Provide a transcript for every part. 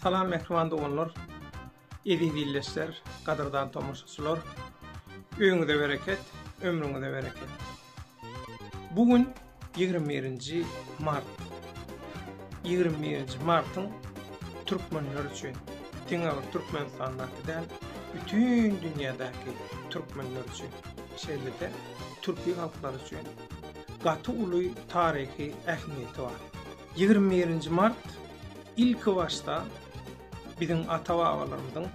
Salam mähriban doganlar, eziz ildeşler, gadyrdan tomaşaçylar! Öýüňize bereket, ömrüňize bereket! Bu gün ýigrimi birinji mart. Ýigrimi birinji martyň türkmenler üçin, diňe bir Türkmenistandaky däl, bütin dünýädäki türkmenler üçin, şeýle-de türki halklar üçin gaty uly taryhy ähmiýeti bar. Ýigrimi birinji mart, ilkibaşda, Biziň ata-babalarymyzyň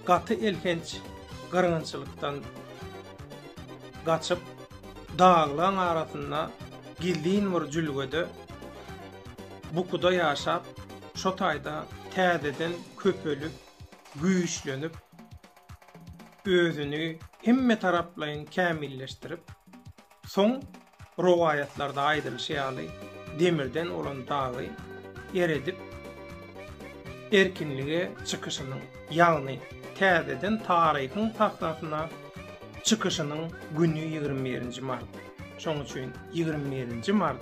gaty elhenç gyrgynçylykdan gaçyp, daglaň arasynda gizlin bir jülgede, bukuda ýaşap, şo taýda täzeden köpelip, güýçlenip, özüni hemmetaraplaýyn kämilleşdirip, Soň rowaýatlarda aýdylyşy ýaly, demirden bolan dagy eredip, erkinlige çykyşynyň, ýagny täzeden taryhyň sahnasyna çykyşynyň güni ýigrimi birinji mart. Şoň üçin ýigrimi birinji mart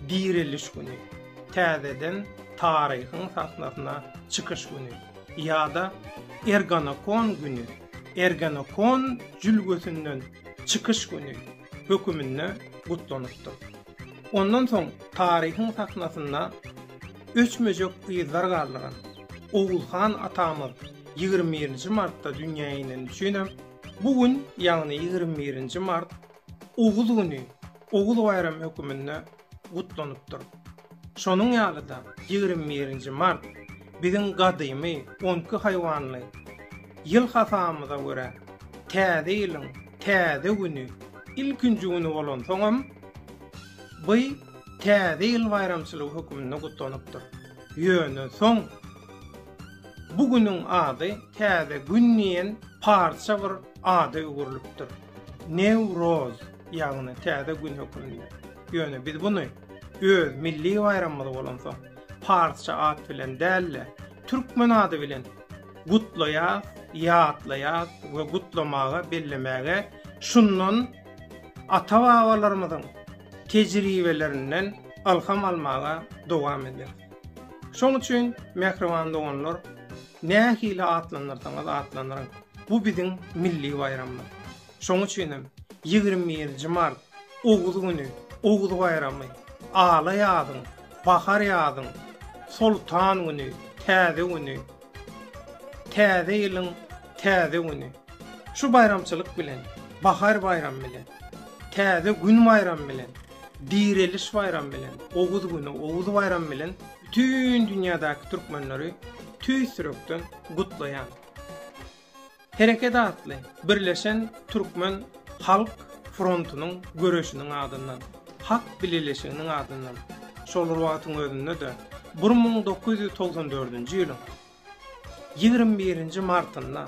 direliş güni, täzeden taryhyň sahnasyna çykyş güni ýa-da erganakon güni. Ergenekon jülgesinden çykyş güni höküminde gutlanypdyr. Ondan soň taryhyň sahnasynda öçmejek yzlar galdyran Oguz han atamyz ýigrimi birinji martda dünýä ineni üçin hem bu gün, ýagny ýigrimi birinji mart Oguz güni, Oguz baýramy höküminde gutlanypdyr. Şonuň ýaly-da ýigrimi birinji mart biziň gadymy on iki haýwanly ýyl hasabymyza görä, täze ýylyň täze güni, ilkinji güni bolansoňam, by Täze ýyl baýramçylygy höküminde gutlanypdyr. Ýöne soň bu günüň ady Täze gün diýen parça bir ada öwrülipdir. Newroz, ýagny Täze gün hökmünde. Ýöne biz buny öz milli baýramymyz bolansoň, parsça at bilen däl-de, türkmen ady bilen gutlaýas, ýatlaýas we gutlamaga, bellemäge şundan ata-babalarymyzyň tejribelerinden ylham almaga dowam ederis. Şoň üçin, mähriban doganlar, Nähili atlandyrsaňyz atlandyryň, bu biziň milli baýramymyz. Şonuň üçin hem ýigrimi birinji mart, Oguz güni, Oguz baýramy, Ala ýazyň, Bahar ýazyň, Soltan güni, Täze güni, Täze ýylyň täze güni. Şu baýramçylyk bilen, Bahar baýramy bilen, Täze gün baýramy bilen, Direliş baýramy bilen, Oguz güni, Oguz baýramy bilen Bütin dünýädäki türkmenleri tüýs ýürekden gutlaýan. Hereket atly birleşen türkmen halk frontunyň göreşiniň adyndan, hak bileleşiginiň adyndan şol wagtyň özünde-de bir müň dokuz ýüz togsan dördünji ýylyň Ýigrimi birinji martynda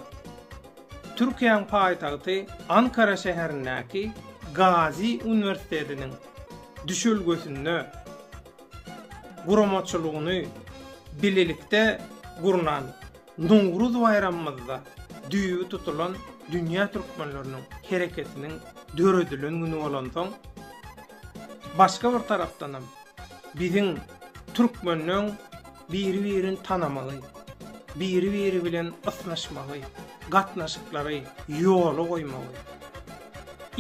Türkiýäň paýtagty Ankara şäherindäki Gazi uniwersitetiniň düşelgesinde guramaçylygyny bilelikde gurnan Nowruz baýramymyzda düýbi tutulan Dünýä Türkmenleriniň hereketiniň döredilen güni bolansoň, başga bir tarapdanam, Biziň türkmenleň biri-birini tanamagy, biri-biri bilen ysnyşmagy, gatnaşyklary ýola goýmagy,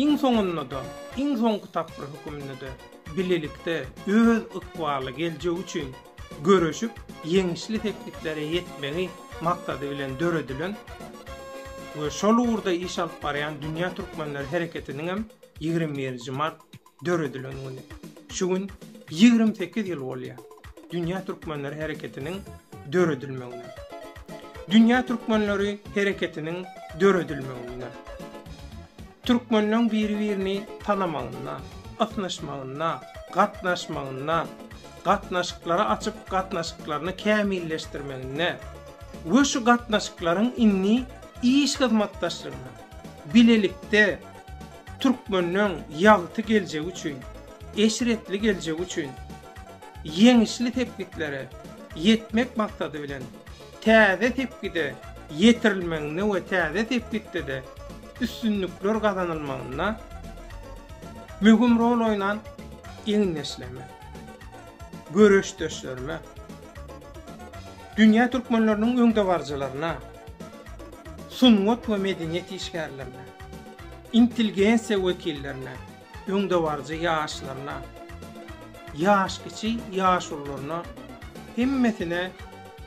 iň soňunda-da, iň soňky tapgyr höküminde-de bilelikde öz ykbally geljegi üçin göreşip, ýeňişli sepgitlere ýetmegi maksady bilen döredilen we şol ugurda iş alyp barýan Dünýä Türkmenleri Hereketiniňem ýigrimi birinji mart döredilen güni. Şu gün ýigrimi sekiz ýyl bolýar Dünýä Türkmenleri Hereketiniň döredilmegine. Dünýä Türkmenleri Hereketiniň döredilmegine. Türkmenleriň biri-birini tanamagyna, ysnyşmagyna, gatnaşmagyna, gatnaşyklary açyp gatnaşyklaryny kämilleşdirmegine we şu gatnaşyklaryň indi iş hyzmatdaşlygyna, bilelikde, Türkmenleň ýagty geljegi üçin, eşretli geljegi üçin ýeňişli sepgitlere ýetmek maksady bilen, täze sepgide ýetirilmeginde we täze sepgitde-de üstünlikler gazanylmagynda möhüm rol oýnan egindeşlerime, göreşdeşlerime, dünýä türkmenleriniň öňdebaryjylaryna, sungat we medeniýet işgärlerine, intelgensiýa wekillerine, öňdebaryjy ýaşlaryna, ýaş-kiçi ýaşulularyna hemmesine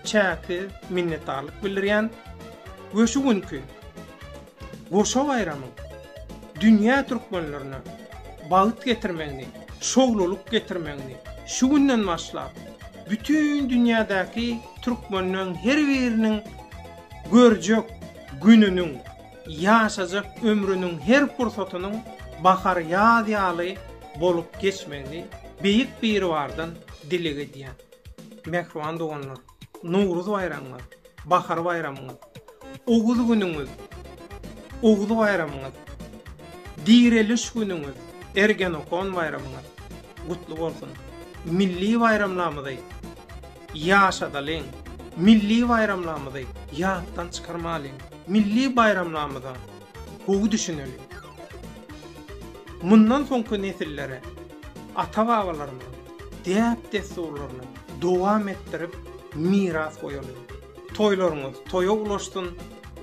çäksiz minnetdarlyk bildirýän we şu günki goşa baýramyň dünýä türkmenlerine bagt getirmegini, şowlulyk getirmegini, şu günden başlap, bütin dünýädäki türkmenleriň her biriniň görjek gününiň, ýaşajak ömrüniň her pursatynyň bahar-ýaz ýaly bolup geçmegini Beýik Biribardan dileg edýän. Mähriban doganlar! Nowruz baýramyňyz, bahar baýramyňyz, Oguz günüňiz, Oguz baýramyňyz, Direliş günüňiz, Ergenokon baýramyňyz gutly bolsun! Milli baýramlarymyzy ýaşadalyň! Milli baýramlarymyzy ýatdan çykarmalyň! Milli baýramlarymyza gowy düşüneliň! Mundan soňky nesillere ata-babalarymyzyň däp-dessurlaryny dowam etdirip, miras goýaly. Toýlaryňyz toýa ulaşsyn,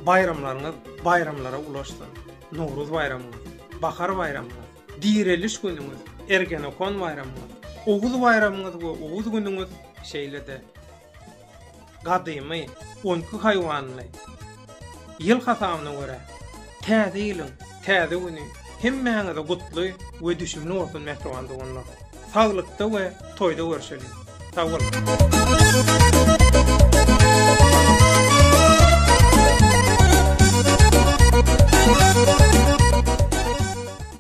baýramlaryňyz baýramlara ulaşsyn! Nowruz baýramyňyz, bahar baýramyňyz, direliş günüňiz, Ergenekon baýramyňyz, Oguz baýramyňyz we Oguz günüňiz şeýle-de, gadymy on iki haýwanly ýyl hasabyna görä Täze ýylyň täze güni hemmäňize gutly we düşümli bolsun mähriban doganlar. Saglykda we toýda görşeliň. Sag boluň.